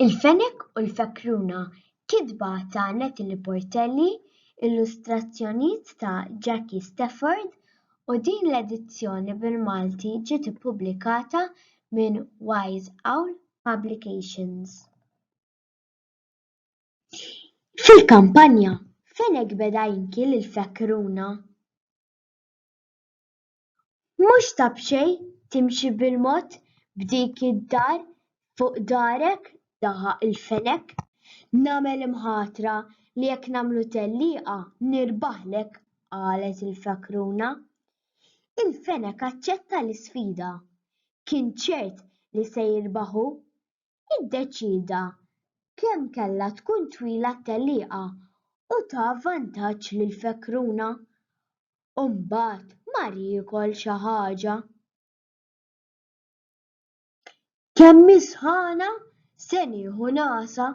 Il-fenek u l-fekruna, kitba ta' Natalie Portelli, illustrazzjonijiet ta' Jackie Stafford, u din l-edizzjoni bil-Malti ġiet ippubblikata minn Wise Owl Publications. Fil-kampanja, fenek beda jinki lill-fekruna. Mhux ta' b'xejn timxi bil-mod b'dik id-dar fuq darek daħaq il-fenek. Nagħmel imħatra li jekk nagħmlu tellieqa nirbaħlek qalet il-fakruna. Il-fenek aċċetta l-isfida. Kien ċert li se jirbaħ hu. iddeċieda kemm kellha tkun twila t-tellieqa u ta vantaġġ lil Fekruna. U mbagħad mar jiekol xi ħaġa. Kemm hi sħana, se nieħu nagħsa.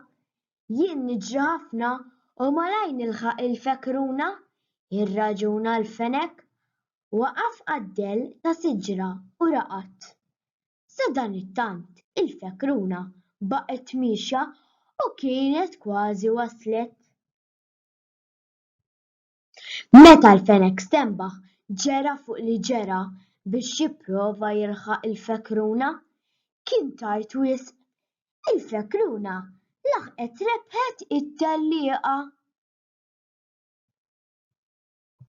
Jien niġri ħafna u malajr nilħaq lil Fekruna, jirraġuna l-fenek. Waqaf għad-dell ta' siġra u raqad. Sadanittant il-fekruna baqgħet miexja u kienet kważi waslet. Meta l-fenek stenbaħ ġera fuq li ġera biex jipprova jilħaq il-fekruna, kien tard wisq. Il-fekruna laħqet rebħet it-tellieqa.